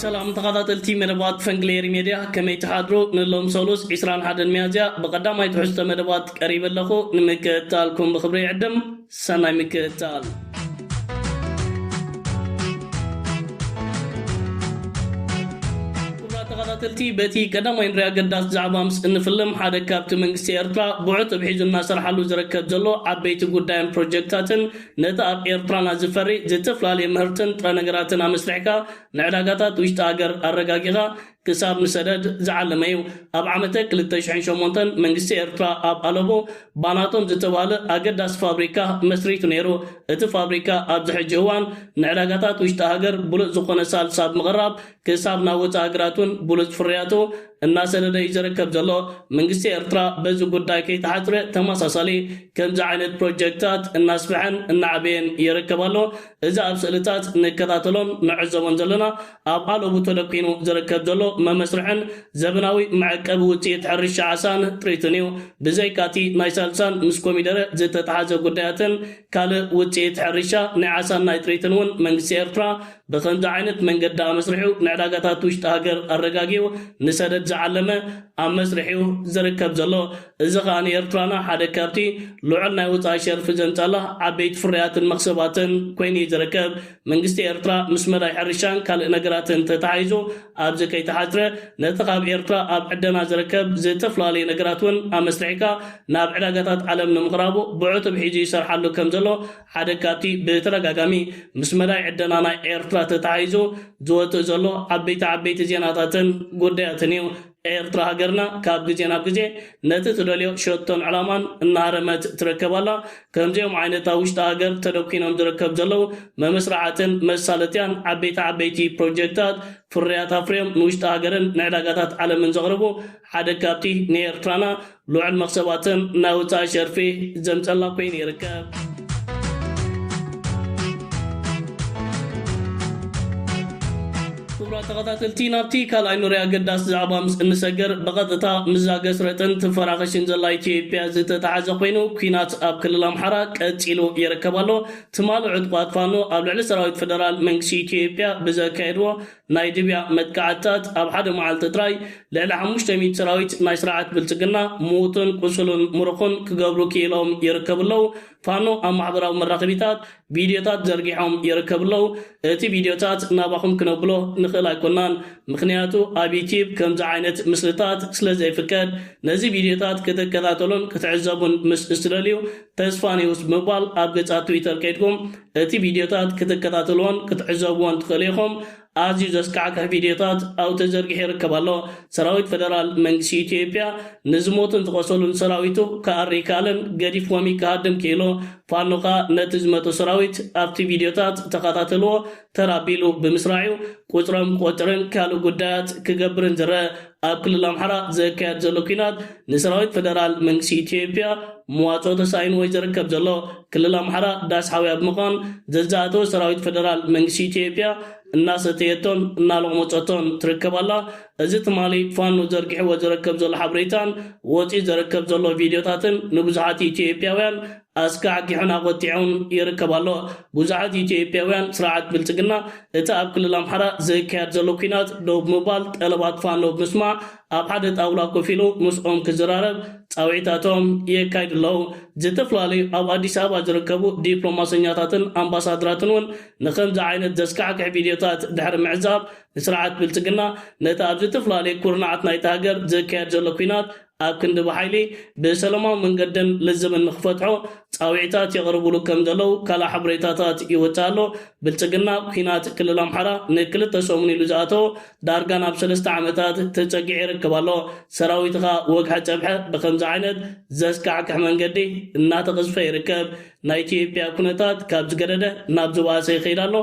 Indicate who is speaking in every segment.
Speaker 1: ሰላም ተኻታተልቲ መደባት ፈንግሌሪ ሜድያ ከመይ ትሓድሩ ንሎም ሰሉስ ዒስራን ሓደን ሚያዝያ ብቐዳማይ ትሕዝቶ መደባት ቀሪበ ኣለኹ ንምክእታልኩም ብኽብሪ ይዕድም ሰናይ ምክእታል ተኸታተልቲ በቲ ቀዳማይ ንሪያ ገዳስ ዛዕባ ምስ እንፍልም ሓደ ካብቲ መንግስቲ ኤርትራ ብዑቱብ ሒዙ እናሰርሓሉ ዝርከብ ዘሎ ዓበይቲ ጉዳይን ፕሮጀክታትን ነቲ ኣብ ኤርትራና ዝፈሪ ዝትፍላልየ ምህርትን ጥረ ነገራትን ኣመስሪሕካ ንዕዳጋታት ውሽጢ ሃገር ኣረጋጊኻ ክሳብ ንሰደድ ዝዓለመ እዩ። ኣብ ዓመተ ክልተ ሽሕን ሸሞንተን መንግስቲ ኤርትራ ኣብ ኣለቦ ባናቶም ዝተባህለ ኣገዳሲ ፋብሪካ መስሪቱ ነይሩ። እቲ ፋብሪካ ኣብዚ ሕጂ እዋን ንዕዳጋታት ውሽጢ ሃገር ብሉጽ ዝኾነ ሳልስ ኣብ ምቕራብ ክሳብ ናብ ወጻኢ ሃገራት'ውን ብሉጽ ፍርያቱ እናሰደደ እዩ ዝርከብ ዘሎ። መንግስቲ ኤርትራ በዚ ጉዳይ ከይተሓጽረ ተመሳሳሊ ከምዚ ዓይነት ፕሮጀክታት እናስፍሐን እናዕበየን ይርከብ ኣሎ። እዚ ኣብ ስእልታት ንከታተሎን ንዕዘቦን ዘለና ኣብ ኣለቡ ተደኲኑ ዝርከብ ዘሎ መመስርሕን ዘበናዊ መዐቀቢ ውጽኢት ሕርሻ ዓሳን ጥሪቱን እዩ። ብዘይካ'ቲ ናይ ሳልሳን ምስ ኮሚደረ ዝተተሓዘ ጉዳያትን ካልእ ውጽኢት ሕርሻ ናይ ዓሳን ናይ ጥሪትን እውን መንግስቲ ኤርትራ ብኸምዚ ዓይነት መንገዲ ኣመስሪሑ ንዕዳጋታት ውሽጢ ሃገር ኣረጋጊኡ ንሰደድ ዝዓለመ ኣብ መስርሕ'ዩ ዝርከብ ዘሎ። እዚ ከኣ ንኤርትራና ሓደ ካብቲ ልዑል ናይ ወጻኢ ሸርፊ ዘምጻላ ዓበይቲ ፍርያትን መኽሰባትን ኮይኑ'ዩ ዝርከብ። መንግስቲ ኤርትራ ምስ መዳይ ሕርሻን ካልእ ነገራትን ተተሓሒዙ ኣብዚ ከይተሓጽረ ነቲ ካብ ኤርትራ ኣብ ዕደና ዝርከብ ዝተፈላለዩ ነገራት'ውን ኣመስሪሕካ ናብ ዕዳጋታት ዓለም ንምቕራቡ ብዕቱብ ሒዙ ይሰርሓሉ ከምዘሎ ሓደ ካብቲ ብተደጋጋሚ ምስ መዳይ ዕደና ናይ ኤርትራ ተተሓሒዙ ዝወጽእ ዘሎ ዓበይቲ ዓበይቲ ዜናታትን ጉዳያትን እዩ። ኤርትራ ሃገርና ካብ ግዜ ናብ ግዜ ነቲ ትደልዮ ሸቶን ዕላማን እናሃረመት ትረከብ ኣላ። ከምዚኦም ዓይነት ኣብ ውሽጢ ሃገር ተደኲኖም ዝረከብ ዘለዉ መመስርሓትን መሳለጥያን ዓበይቲ ዓበይቲ ፕሮጀክታት ፍርያት ኣፍርዮም ንውሽጢ ሃገርን ንዕዳጋታት ዓለምን ዘቕርቡ ሓደ ካብቲ ንኤርትራና ልዑል መኽሰባትን ናይ ወፃኢ ሸርፊ ዘምፀላ ኮይኑ ይርከብ። ክቡራት ተኸታተልቲ ናብቲ ካልኣይ ኑሪ ኣገዳሲ ዛዕባ ምስ እንሰግር ብቐጥታ ምዛ ገስረጥን ትፈራኸሽን ዘላ ኢትዮጵያ ዝተተሓዘ ኮይኑ ኩናት ኣብ ክልል ኣምሓራ ቀፂሉ ይርከብ ኣሎ። ትማሊ ዕጡቓት ፋኖ ኣብ ልዕሊ ሰራዊት ፌደራል መንግስቲ ኢትዮጵያ ብዘካየድዎ ናይ ድብያ መጥቃዕትታት ኣብ ሓደ መዓልቲ ጥራይ ልዕሊ ሓሙሽተ ሚእቲ ሰራዊት ናይ ስርዓት ብልጽግና ምዉትን ቁሱሉን ምሩኹን ክገብሩ ኪኢሎም ይርከቡ ኣለዉ። ፋኖ ኣብ ማሕበራዊ መራኸቢታት ቪድዮታት ዘርጊሖም ይርከቡ ኣለዉ። እቲ ቪድዮታት ናባኹም ክነብሎ ንኽእል ኣይኮናን ምኽንያቱ ኣብ ዩትዩብ ከምዚ ዓይነት ምስልታት ስለ ዘይፍቀድ። ነዚ ቪድዮታት ክትከታተሉን ክትዕዘቡን ምስ እትደልዩ ተስፋኒዉስ ብምባል ኣብ ገጻት ትዊተር ከይድኩም እቲ ቪድዮታት ክትከታተልዎን ክትዕዘብዎን ትኽእሉ ኢኹም። ኣዝዩ ዘስካሕክሕ ቪድዮታት ኣብኡ ተዘርጊሑ ይርከብ ኣሎ። ሰራዊት ፈደራል መንግስቲ ኢትዮጵያ ንዝሞቱን ዝቖሰሉን ሰራዊቱ ክኣሪ ኣይከኣለን፣ ገዲፍዎም እዩ ክሃድም ክኢሉ። ፋኖ ከኣ ነቲ ዝመተ ሰራዊት ኣብቲ ቪድዮታት ተኸታተልዎ ተር ኣቢሉ ብምስራዕ'ዩ ቁጽሮም ክቖጽርን ካልእ ጉዳያት ክገብርን ዝረኣ። ኣብ ክልል ኣምሓራ ዘካየድ ዘሎ ኲናት ንሰራዊት ፈደራል መንግስቲ ኢትዮጵያ መዋፅኦ ተሳኢንዎ'ዩ ዘርከብ ዘሎ። ክልል ኣምሓራ ዳስ ሓውያ ብምዃን ዘዝኣተወ ሰራዊት ፈደራል መንግስቲ ኢትዮጵያ እናሰተየቶን እናሎቕሞፀቶን ትርከብ ኣላ። እዚ ትማሊ ፋኖ ዘርጊሕዎ ዘረከብ ዘሎ ሓበሬታን ወፂኡ ዘረከብ ዘሎ ቪድዮታትን ንብዙሓት ኢትዮጵያውያን ኣስካሕኪሑን ኣቖጢዑን ይርከብ ኣሎ። ብዙሓት ኢትዮጵያውያን ስርዓት ብልፅግና እቲ ኣብ ክልል ኣምሓራ ዝካየድ ዘሎ ኲናት ደው ብምባል ጠለባት ፋኖ ብምስማዕ ኣብ ሓደ ጣውላ ኮፍ ኢሉ ምስኦም ክዝራረብ ፃውዒታቶም የካይዱ ኣለው። ዝተፈላለዩ ኣብ ኣዲስ ኣበባ ዝርከቡ ዲፕሎማሰኛታትን ኣምባሳድራትን እውን ንኸምዚ ዓይነት ዘስካሕክሕ ቪድዮታት ድሕሪ ምዕዛብ ንስርዓት ብልፅግና ነቲ ኣብ ዝተፈላለዩ ኩርናዓት ናይታ ሃገር ዝካየድ ዘሎ ኲናት ኣብ ክንዲ ብሓይሊ ብሰለማዊ መንገድን ልዝብን ንክፈትሖ ፃውዒታት የቕርብሉ ከም ዘለው ካልእ ሓበሬታታት ይውፃእ ኣሎ። ብልፅግና ኲናት ክልል ኣምሓራ ንክልተ ሰሙን ኢሉ ዝኣተዎ ዳርጋ ናብ ሰለስተ ዓመታት ተፀጊዑ ይርከብ ኣሎ። ሰራዊትኻ ወግሐ ፀብሐ ብኸምዚ ዓይነት ዘስካሕክሕ መንገዲ እናተቐዝፈ ይርከብ። ናይ ኢትዮጵያ ኩነታት ካብ ዝገደደ ናብ ዝባእሰ ይኸይድ ኣሎ፣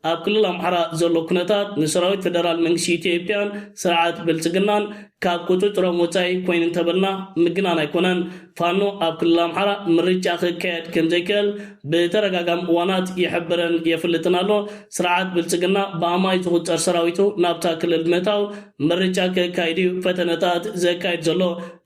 Speaker 1: ኣብ ክልል ኣምሓራ ዘሎ ኩነታት ንሰራዊት ፈደራል መንግስቲ ኢትዮጵያን ስርዓት ብልፅግናን ካብ ቁፅፅሮም ወፃኢ ኮይኑ እንተበልና ምግናን ኣይኮነን። ፋኖ ኣብ ክልል ኣምሓራ ምርጫ ክካየድ ከምዘይክእል ብተደጋጋሚ እዋናት ይሕብርን የፍልጥን ኣሎ። ስርዓት ብልፅግና ብኣማኢት ዝቑፀር ሰራዊቱ ናብታ ክልል ብምእታው ምርጫ ከካይድ እዩ ፈተነታት ዘካይድ ዘሎ።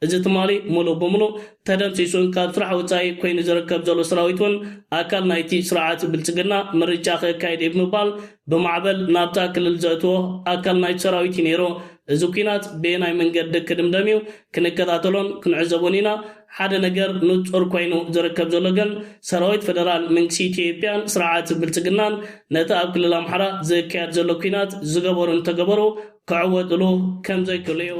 Speaker 1: እዚ ትማሊ ሙሉእ ብሙሉእ ተደምሲሱን ካብ ስራሕ ወጻኢ ኮይኑ ዝርከብ ዘሎ ሰራዊት ውን ኣካል ናይቲ ስርዓት ብልጽግና ምርጫ ከካይድ እየ ብምባል ብማዕበል ናብታ ክልል ዘእትዎ ኣካል ናይቲ ሰራዊት እዩ ነይሩ። እዚ ኲናት በየናይ መንገዲ ክድምደም እዩ ክንከታተሎን ክንዕዘቦን ኢና። ሓደ ነገር ንጹር ኮይኑ ዝርከብ ዘሎ ግን ሰራዊት ፈደራል መንግስቲ ኢትዮጵያን ስርዓት ብልጽግናን ነቲ ኣብ ክልል ኣምሓራ ዝካየድ ዘሎ ኲናት ዝገበሩን ተገበሩ ክዕወትሉ ከም ዘይክእሉ'ዩ።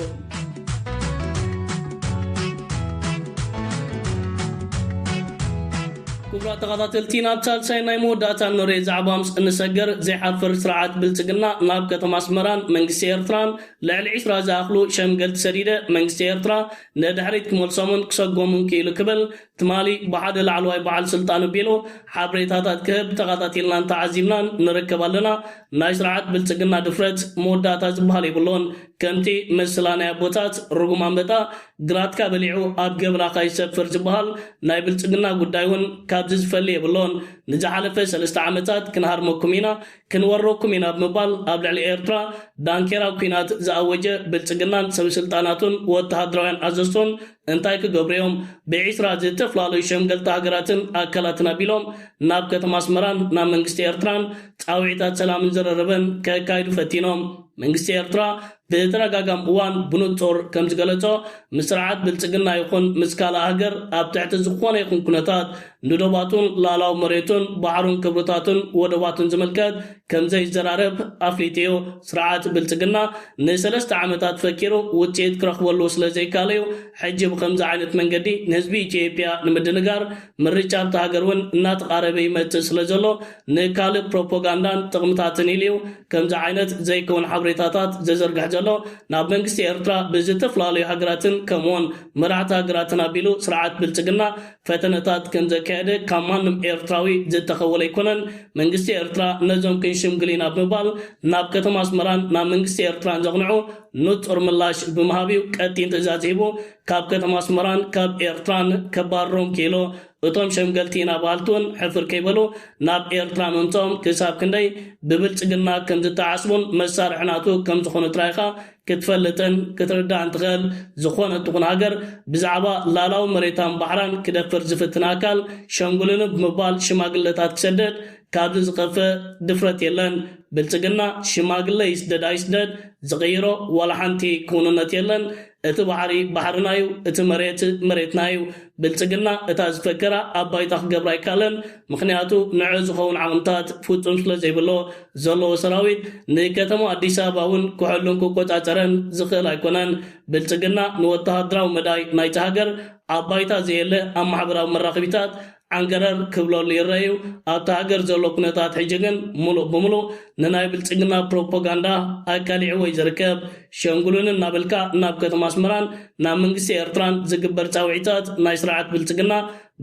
Speaker 1: ክቡራት ተኻታተልቲ ናብ ሳልሳይን ናይ መወዳእታን ንሬ ዛዕባ ምስ እንሰግር ዘይሓፍር ስርዓት ብልጽግና ናብ ከተማ ኣስመራን መንግስቲ ኤርትራን ልዕሊ ዒስራ ዝኣኽሉ ሸምገልቲ ሰዲደ መንግስቲ ኤርትራ ንድሕሪት ክመልሶምን ክሰጎሙን ክኢሉ ክብል ትማሊ ብሓደ ላዕለዋይ በዓል ስልጣን ቢሎ ሓብሬታታት ክህብ ተኻታቲልናን ተዓዚብናን ንርከብ ኣለና። ናይ ስርዓት ብልጽግና ድፍረት መወዳእታ ዝብሃል የብሎን። ከምቲ ምስላ ናይ ኣቦታት ርጉም ኣምበጣ ግራትካ በሊዑ ኣብ ገብላኻ ይሰፍር ዝብሃል ናይ ብልጽግና ጉዳይ ውን ካብዚ ዝፈሊ የብሎን። ንዝሓለፈ ሰለስተ ዓመታት ክንሃርመኩም ኢና። ክንወረኩም ኢና ብምባል ኣብ ልዕሊ ኤርትራ ዳንኬራ ኲናት ዝኣወጀ ብልጽግናን ሰብስልጣናቱን ወተሃደራውያን ኣዘዝቶን እንታይ ክገብሩ'ዮም ብዒስራ ዝተፈላለዩ ሸምገልቲ ሃገራትን ኣካላትን ኣቢሎም ናብ ከተማ ኣስመራን ናብ መንግስቲ ኤርትራን ጻውዒታት ሰላምን ዝርርብን ከካይዱ ፈቲኖም መንግስቲ ኤርትራ ብተደጋጋሚ እዋን ብንጹር ከም ዝገለጾ፣ ምስ ስርዓት ብልጽግና ይኹን ምስ ካልእ ሃገር ኣብ ትሕቲ ዝኾነ ይኹን ኩነታት ንዶባቱን ልኣላዊ መሬቱን ባሕሩን ክብርታቱን ወደባቱን ዝምልከት ከም ዘይዘራረብ ኣፍሊጡ እዩ። ስርዓት ብልጽግና ንሰለስተ ዓመታት ፈኪሩ ውጽኢት ክረኽበሉ ስለ ዘይካለ እዩ ሕጂ ብኸምዚ ዓይነት መንገዲ ንህዝቢ ኢትዮጵያ ንምድንጋር። ምርጫ ኣብታ ሃገር እውን እናተቓረበ ይመጽእ ስለ ዘሎ ንካልእ ፕሮፖጋንዳን ጥቕምታትን ኢሉ'ዩ ከምዚ ዓይነት ዘይከውን ሓብሬታታት ዝዝርግሕ ዘሎ። ናብ መንግስቲ ኤርትራ ብዝተፍላለዩ ሃገራትን ከምኡ'ውን መራሕቲ ሃገራትን ኣቢሉ ስርዓት ብልጽግና ፈተነታት ከምዘካየደ ካብ ማንም ኤርትራዊ ዝተኸወለ ኣይኮነን። መንግስቲ ኤርትራ ነዞም ክንሽምግል ኢና ብምባል ናብ ከተማ ኣስመራን ናብ መንግስቲ ኤርትራን ዘቕንዑ ንጹር ምላሽ ብምሃብ'ዩ ቀጢን ትእዛዝ ሂቡ ካብ ከተማ ኣስመራን ካብ ኤርትራን ከባርሮም ክኢሉ። እቶም ሸምገልቲ ኢና በሃልቲ እውን ሕፍር ከይበሉ ናብ ኤርትራ ምምጽኦም ክሳብ ክንደይ ብብልጽግና ከም ዝተዓስቡን መሳርሒ ናቱ ከም ዝኾኑ ጥራይ ኢኻ ክትፈልጥን ክትርዳእን ትኽእል። ዝኾነት ትኹን ሃገር ብዛዕባ ላላዊ መሬታን ባሕራን ክደፍር ዝፍትን ኣካል ሸንጉሉኒ ብምባል ሽማግለታት ክሰድድ ካብዚ ዝኸፍእ ድፍረት የለን። ብልጽግና ሽማግለ ይስደድ ኣይስደድ ዝቕይሮ ዋላ ሓንቲ ክውንነት የለን። እቲ ባሕሪ ባሕርና ዩ እቲ መሬት መሬትና ዩ ብልጽግና እታ ዝፈከራ ኣብ ባይታ ክገብራ ኣይካለን ምኽንያቱ ንዕ ዝኸውን ዓቕምታት ፉጹም ስለ ዘይብሎ ዘለዎ ሰራዊት ንከተማ ኣዲስ ኣበባ ውን ክሕሉን ክቆጻጸረን ዝኽእል ኣይኮነን ብልጽግና ንወተሃደራዊ መዳይ ናይቲ ሃገር ኣብ ባይታ ዘየለ ኣብ ማሕበራዊ መራኽቢታት ዓንገረር ክብለሉ ይረኣ እዩ። ኣብታ ሃገር ዘሎ ኩነታት ሕጂ ግን ምሉእ ብምሉእ ንናይ ብልጽግና ፕሮፖጋንዳ ኣቃሊዕዎ እዩ ዝርከብ። ሸንግሉኒ እናበልካ ናብ ከተማ ኣስመራን ናብ መንግስቲ ኤርትራን ዝግበር ጻውዒታት ናይ ስርዓት ብልጽግና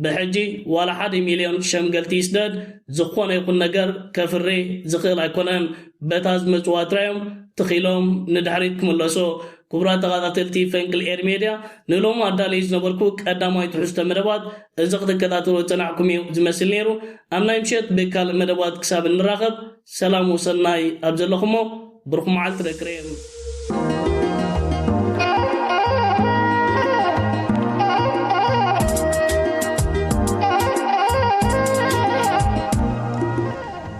Speaker 1: ብሕጂ ዋላ ሓደ ሚልዮን ሸምገልቲ ይስደድ ዝኾነ ይኹን ነገር ከፍሪ ዝኽእል ኣይኮነን። በታ ዝመጽዋ ጥራይ እዮም ትኺሎም ንድሕሪት ክምለሱ። ክቡራት ተኻታተልቲ ፈንቅል ኤሪ ሜድያ ንሎሚ ኣዳልየዮ ዝነበርኩ ቀዳማይ ትሕዝቶ መደባት እዚ ክትከታተልዎ ዝጸናሕኩም እዩ ዝመስል ነይሩ። ኣብ ናይ ምሸት ብካልእ መደባት ክሳብ እንራኸብ ሰላም ወሰናይ ኣብ ዘለኹሞ ብሩኽ መዓልቲ ደቂ ሬም።